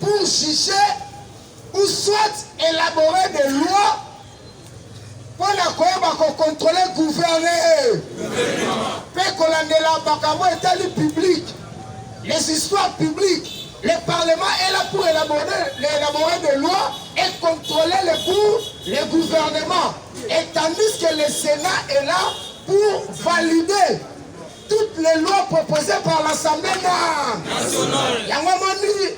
pour juger ou soit élaborer des lois mpo na koyeba kokontrole gouverne mpe kolandela makambo etali public les histoires publiques le parlement est là pour élaborer, élaborer des lois et contrôler les cours le gouvernement et tandis que le sénat est là pour valider toutes les lois proposées par l'Assemblée nationale. Yango moni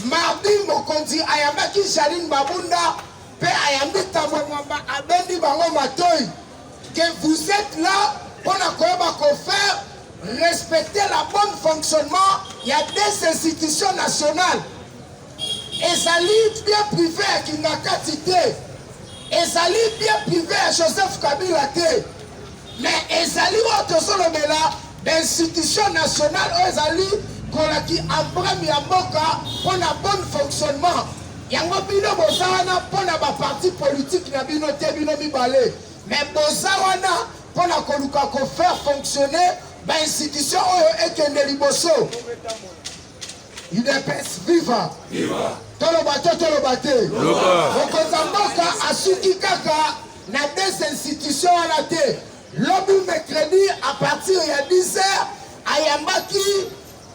mardi mokonzi ayambaki Janine Babunda mpe ayambi Tambwe Mwamba abendi bango matoi que vous êtes là mpo na koyeba kofaire respecter la bonne fonctionnement ya des institutions nationales Ezali bien prive ya Kingakati te, ezali bien prive ya Joseph Kabila te, mais ezali oyo tozolobela institution nationale oyo ezali kolaki embrame ya mboka mpo na bon fonctionnement yango bino boza wana mpo na baparti politike na bino te bino mibale me boza wana mpo na koluka kofaire fonctionner bainstitution oyo ekende liboso udps viva toloba to toloba te mokonzi ya mboka asuki kaka na des institutions wana te lobi mercredi à partir ya 10 heures ayambaki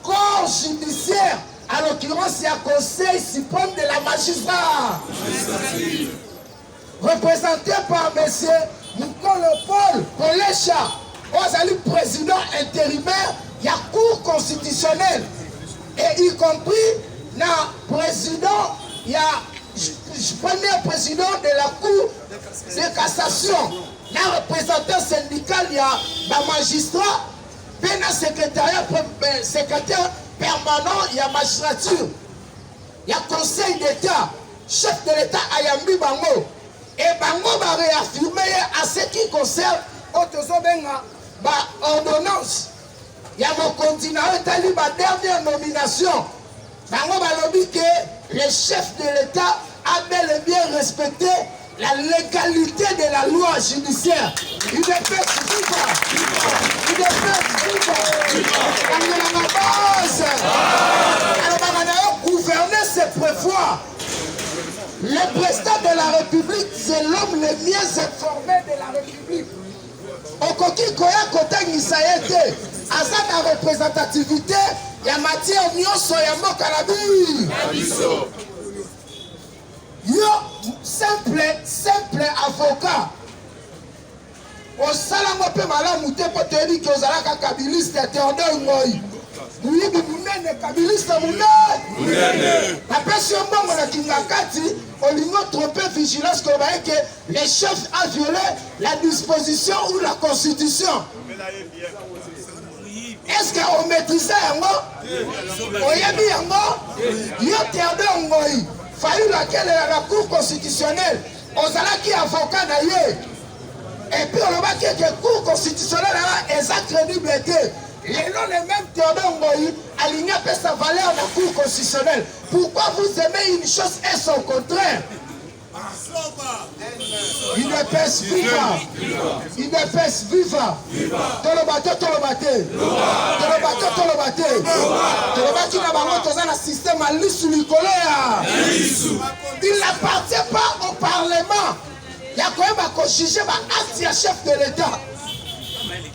corps judiciaire à l'occurrence ya conseil suprême de la magistrat represente par monsieur Mukolo Paul Kolesha oyo azali président intérimaire ya cour constitutionnelle et y compris na président ya premier président de la cour de cassation na représentant syndical ya bamagistrat mpe na secrétariat euh, secrétaire permanent ya magistrature ya conseil d'état Chef de l'Etat ayambi bango et bango ba réaffirmer ye à ce qui concerne oyo tozobenga ba ordonnance ya mokonzi na oyo etali ba dernière nomination bango balobi ke le chef de l'Etat a bel et bien respecté La legalite de la loi judiciaire. Il est fait viva. Il est fait viva. Kangela ma base. Alors, Bamanao, gouverner, c'est prévoir. Les prestats de la République, c'est l'homme le mieux informé de la République. okoki koya kotangisa ye te aza na representativité ya matière nyonso ya mboka na biso Yo simple simple avocat osala ngo mpe malamu te mpo toyebi ke ozalaka kabiliste ya Theodore Ngoi moyibi monene kabiliste monene apesi yo mbongo na kingakati olingi otrompe vigilance koloba eke le chef a viole la disposition ou la constitution eske ometrize yango oyebi yango yo teodor ngoi fayulu akelela na cour constitutionnelle ozalaki avoka na ye epuis olobaki ete cour constitutionnelle aa eza crédible te lelo le même teodor ngoi alingi apesa valeur na cour constitutionnelle pourquoi vous aimez une chose et son contraire Udps viva! Udps viva! Toloba te toloba te toloba te toloba te tolobaki na bango toza na système ya lisu likolo ya il n'appartient pas au parlement ya koyeba kojuge baacte ya chef de l'état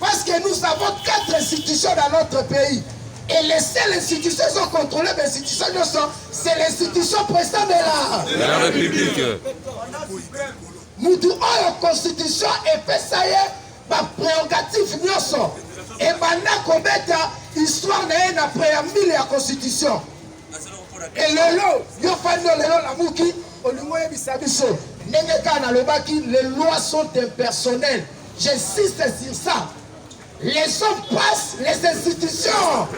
parce que nous avons quatre institutions dans notre pays et les seules institutions ezocontrôle bainstitution nyonso C'est l'institution président de la... De la République. Mutu oyo constitution epesa ye ba prérogative nyonso ebanda kobeta histoire na ye na préambule ya constitution elelo yo fandi olelo lamuki olingi oyebisa biso ndenge kaka nalobaki les lois sont impersonnelles j'insiste sur ça Les choses passent, les institutions.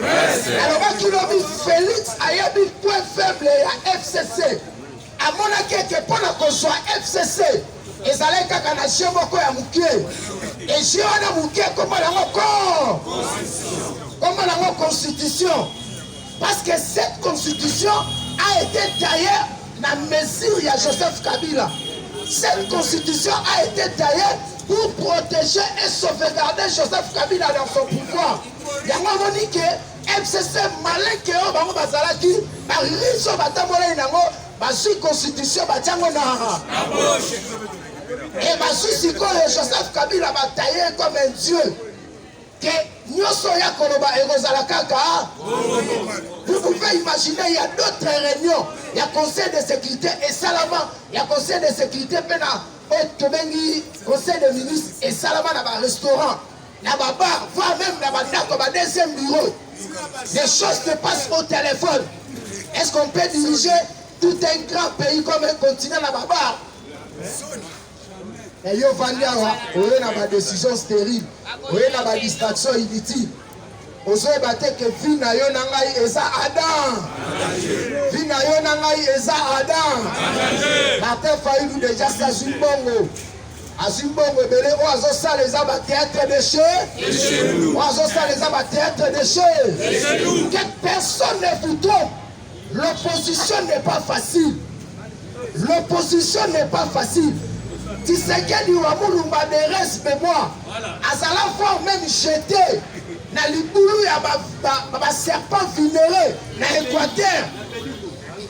alobaki lobi Felix ayebi point faible ya FCC. amonaki ete mpo na kozwa FCC ezalaki kaka na jeu moko ya moke ejeu wana moke kombo nango ko kombo nango constitution Parce que cette constitution a ete taille na mesure ya Joseph Kabila. Cette constitution a ete taille pour protéger et sauvegarder Joseph Kabila dans son pouvoir. Yango amoni ke FCC maleke oyo bango bazalaki bariso batambolaki nango bazwi constitution batiango na e bazwi sikoyo Joseph Kabila bataye comme un dieu que nyoso oya koloba ekozala kaka vous pouvez imaginer il y a d'autres réunions il y a conseil de sécurité et salama il y a conseil de sécurité mpe na oyo tobengi conseil de ministre et salama na ba restaurant na ba bar voire même na ba ndako ba deuxième bureau des choses se passent au téléphone est-ce qu'on peut diriger tout un grand pays comme un continent na ba bar Mais yo vandi awa oye na ba décision stérile, oye na ba distraction inutile. ozoyeba te ke vi na yo na ngai eza adam vi na yo na ngai eza adam martin fayulu deja si azwi mbongo azwi mbongo ebele oyo azosala eza bateatre de chez oyo azosala eza bateatre de chez que personne ne vous trompe L'opposition n'est pas facile. L'opposition n'est pas facile. Tshisekedi wa Mulumba ne reste mais moi. Azala voir même jeter na libulu ya ba, ba, ba, ba serpent vulnéré na Équateur.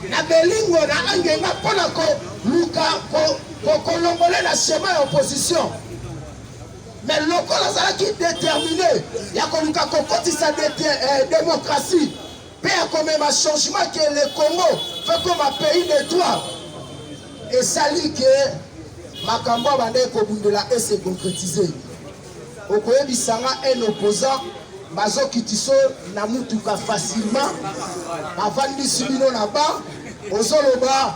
Na Belingo na Angenga mpo na koluka kolongole na chemin ya opposition. Mais lokola azalaki déterminé ya koluka kokotisa eh, démocratie Pe ya komema changement que le Congo veut comme un pays de droit. Et ça dit que makambo abandaki kobundela et se concrétiser. Okoyebisa nga un opposant bazokiti so na mutuka facilement bavandisi bino na ba ozoloba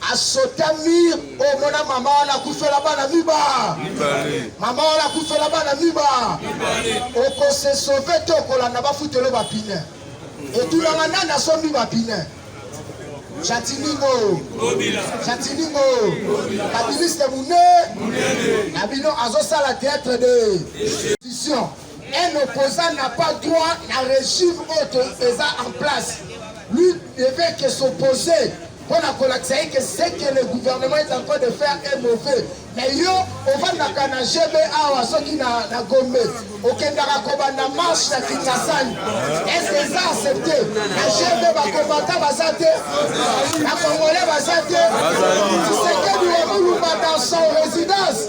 a sauta mur o mona mama wana akufela bana miba mama wana akufela bana miba okose sauve te okolanda bafutelo bapine etunanga nani asombi bapine jatiningo jatiningo kabiliste mune na bino azosala théâtre de vision Un opposant n'a pas droit na régime oyo eza en place. Lui devait que s'opposer pour la kolakisa ye que ce que le gouvernement est en train de faire est mauvais. Mais yo ovandaka na GB awa soki na, na Gombe okendaka kobanda marche na Kingasani. Est-ce que eza accepté? Na GB bakomata baza te, na Congolais baza te. Tshisekedi wa Mulumba dans son résidence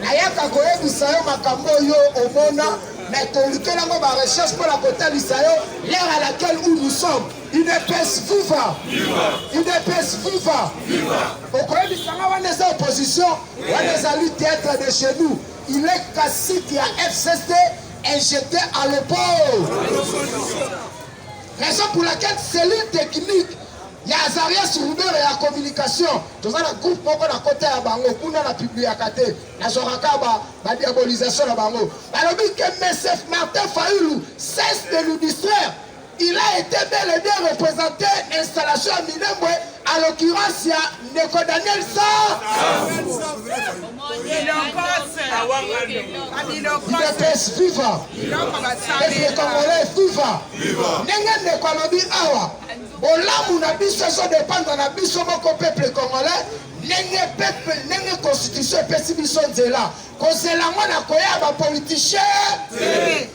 Nayaka koyebisa yo makambo oyo omona, mais tolukela yango ba recherche mpo na kotalisa yo l'heure à laquelle où nous sommes. UDPS viva! UDPS viva! Okoyebisa nga wana eza opposition, wana ezali théâtre de chez nous. Il est cacique ya FCC et j'étais à l'opposition. Raison pour laquelle cellule technique Ya Azarias Rubero ya communication toza na groupe moko na kota ya bango kuna na publiaka te nazwaka ka ba, ba diabolisation na bango balobi ke MSF Martin Fayulu cesse de nous distraire il a été bel et bien représenté installation ya Minembwe à l'occurrence ya ndeko Daniel Sar Udps viva Peuple congolais viva ndenge ndeko alobi awa Bolamu na biso ezo dependre na biso moko peuple congolais ndenge peuple ndenge constitution epesi biso nzela kozela yango na koya ba politiciens te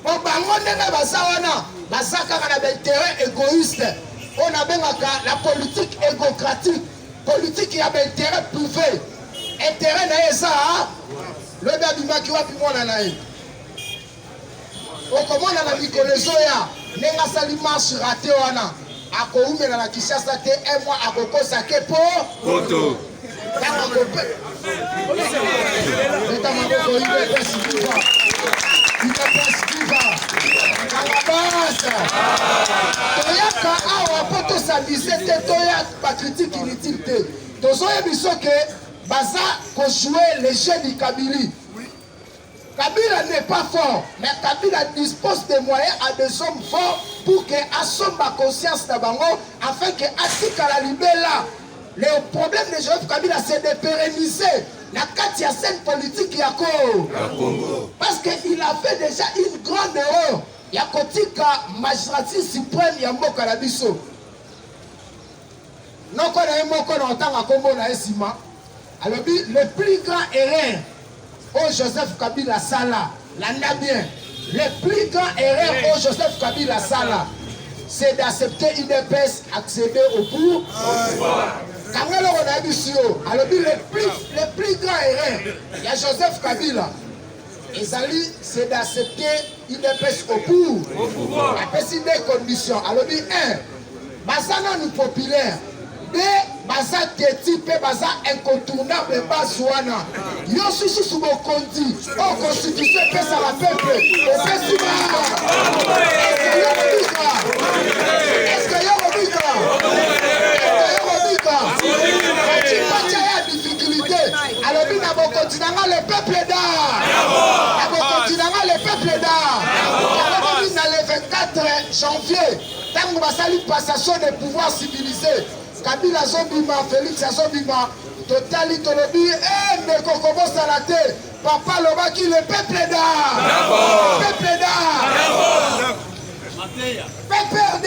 po bango ndenge baza wana baza kaka na bainteret égoïste oyo nabengaka la politique égocratique politique ya bainteret privé interet na ye eza lobi abimaki wapi mwana na ye Okomona na mikolo ezoya ndenge asali marche rate wana akoumela na Kinshasa te un mois akokosa ke po poto toyaka awa mpo tosabise te toya bakritike inutile te tozoyebi soke baza kojoue le jeu du kabili Kabila n'est pas fort, mais Kabila dispose des moyens à des hommes forts pour que asomba conscience na bango afin que atikala libela. Le problème de Joseph Kabila c'est de pérenniser la kati ya scène politique ya Congo. Parce qu'il a fait déjà une grande erreur ya kotika magistrature suprême ya mboka na biso. Noko na ye moko na otanga kombo na ye nsima alobi le plus grand erreur oyo Joseph Kabila asala, landa bien, le plus grand erreur oyo Joseph Kabila asala c'est d'accepter UDPS accéder au pouvoir. Kanga eloko na ye bisi yo alobi le plus grand erreur ya Joseph Kabila ezali c'est d'accepter udps au pouvoir apesi nde condition alobi 1 baza nanu populaire de baza teti mpe baza incontournable base wana yo sususu bokonzi o oh, constitution epesa la peuple opesi baa alobi na bokonzi na nga le peuple da na bokonzi na nga le peuple da akokomi na le 24 janvier ntango basali passation de pouvoir civilisé kabila azobima félix azobima totali tolobi e eh, ndeko kobosala te papa alobaki le peuple da peuple da pprd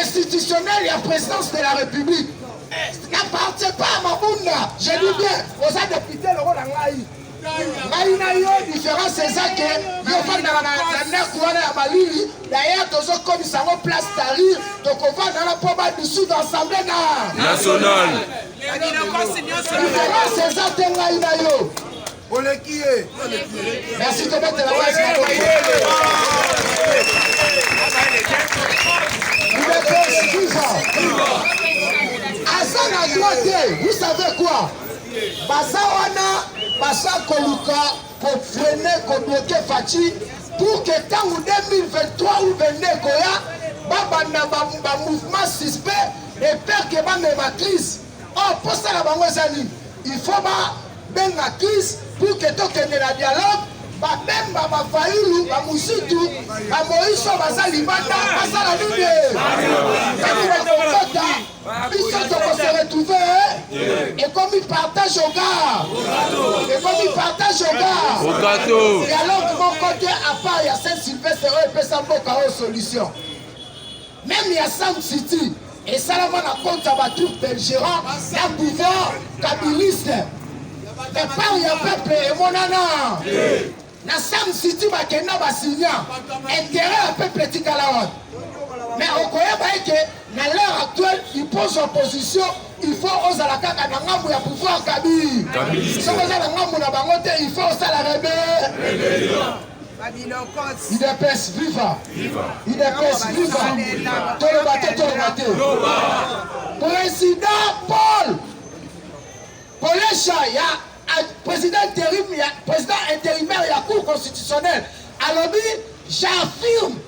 institutionnel ya présidence de la république n'appartient pas à mabunda je dis bien oza député lokola ngai ngai na yo différence eza ke yo ofandaka na ndako wana ya malili dayere tozokomisa yango place tarir tokovanda na mpo badisude assemblée na nationale diference eza te ngai na yo Oleki ye. Merci to bete la base na kote. Liberté Kiva. Aza na droit te. Vous savez quoi? Baza wana baza koluka ko freiner ko bloquer Fatshi pour que ntango 2023 ou 22 ekoya babanda ba, ba mouvement suspect et peur que bamema crise Oh, posa na bango eza nini? Il faut ba benga crise pour que tokende na dialogue babemba bafayulu bamusutu bamoiso baza libanda basala nini tango bakokota biso tokose retrouve ekomi partage ogar ekomi partage ogar dialogue moko te apart ya saint sylvestre oyo epesa mboka oyo solution Meme ya Sam City esalama na compte ya ba troupes belgérants na pouvoir kabiliste départ ya peuple emonana na Sam City bakenda basigna intérêt ya peuple etikala wana mais okoyeba ete na l'heure actuelle ipose opposition il faut ozala kaka na ngambo ya pouvoir kabi soki oza na ngambo na bango te il faut osala rebe Udps viva! Udps viva! Toloba te, toloba te. Président Paul Kolesha ya président interim ya président intérimaire ya Cour constitutionnelle alobi j'affirme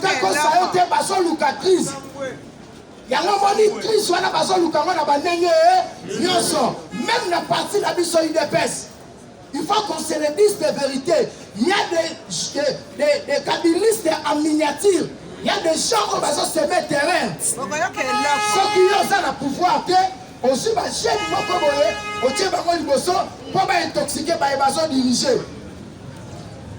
kokosa yo te bazoluka crise yango omoni crise wana bazoluka yango na bandenge nyonso meme na parti na biso udps il faut qu'on se le dise de vérité il y a des, des, des, des kabilistes en miniature il y a des gens oyo bazoseme terrain soki yo oza na pouvoir te Ozwi ba jeunes moko boye otie bango liboso mpo ba intoxique baye bazo dirige.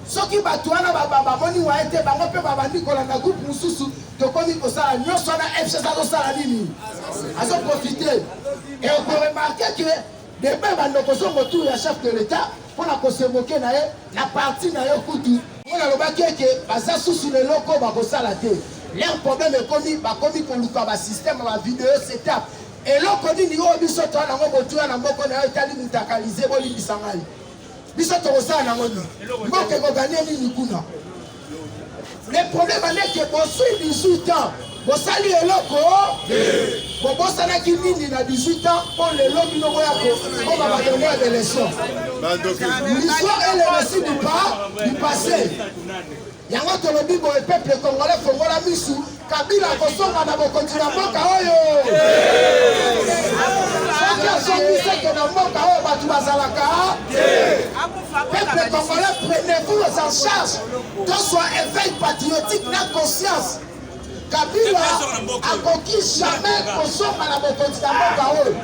Soki bato wana bamoni waye te bango mpe babandi kolanda groupe mosusu tokomi kosala nyonso wana fcs azosala nini azo profite e okoremarke ke debe bandoko zongo tour ya chef de l'etat mpo na kosemoke na ye na parti na yo kutu oyo nalobaki eke baza susu na eloko bakosala te leur problème ekomi bakomi koluka basystème ya bavideo setup Eloko nini oyo biso toa nango motuya na moko na yo etali mutakalize bolimbisa ngai biso tokosala nango nini mboka ekoganie nini kuna le problème aneke bosui 18 ans bosali eloko bobosanaki nini na 18 ans mpo lelo bino boya kokoma batongo ya beleson l'histoire est le récit du pas du passé Yango tolobi boye peuple congolais fongola misu Kabila akosonga na bokonzi na mboka oyo. Soki asongi seke na mboka oyo bato bazalaka. Peuple congolais prenez-vous en charge. Toswa éveil patriotique na conscience. Kabila akoki jamais kosonga na bokonzi na mboka oyo.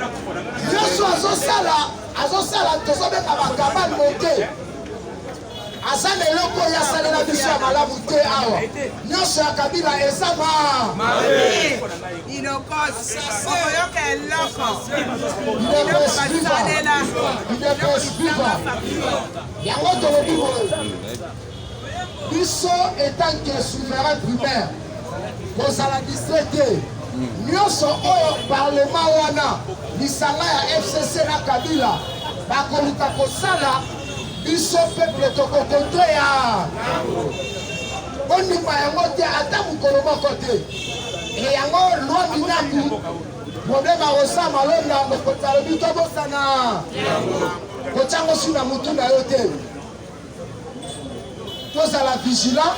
Nyonso azosala azosala tozobeka bakabane moke. aza na eloko oyo asalela biso ya malamu te awa nyonso ya kabila eza ma okoyoka eloko basalela yango tolobi boye biso etanke souverain primaire kozala distre te nyonso oyo parlema wana lisanga ya fcc na kabila bakoluka kosala Biso peuple toko contre ya bondima yango te ata mokolo moko te e yango loi minaku problème akosa malonda mokonzi alobi tobosana kotyango si na motu na yo te tozala vigilant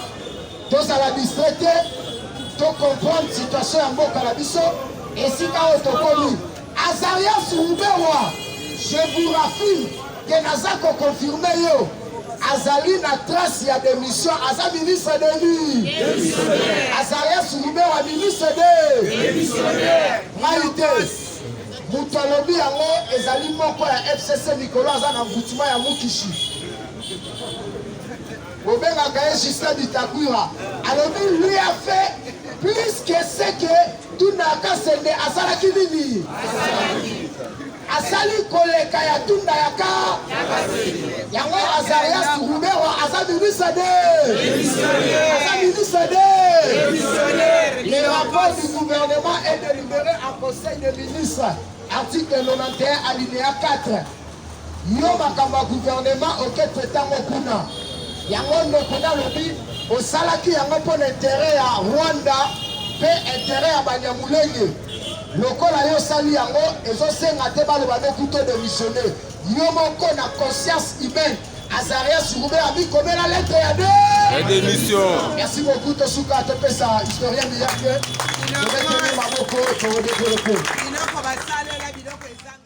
tozala distrait te tocomprendre situation ya mboka na biso esika oyo tokomi Azarias Ruberwa, je vous raffirme que naza ko confirmer yo azali na trace ya demission aza ministre de nini azarias ruberwa ministre de mai te moto alobi yango ezali moko ya fcc mikolo aza na mvutima ya mukishi bobengaka ye justin bitakwira alobi lui a fait plus que ce que Tunda ya Kasende asalaki nini? Asali koleka ya Tunda ya ka yango Azarias Ruberwa aza ministre de aza ministre de le rapport du gouvernement est délibéré en conseil des ministres article 91 alinéa 4 Yo makambo ya gouvernement oke petango kuna yango ndoko nalobi osalaki yango mpo na interet ya Rwanda mpe interet ya Banyamulenge lokola yo osali yango ezosenga te baloba nde kuto demissione yo moko na conscience humaine azaria surube amikomela lettre ya de démission merci beaucoup tosuka topesa historien miyake tobeteli maboko toodekolopo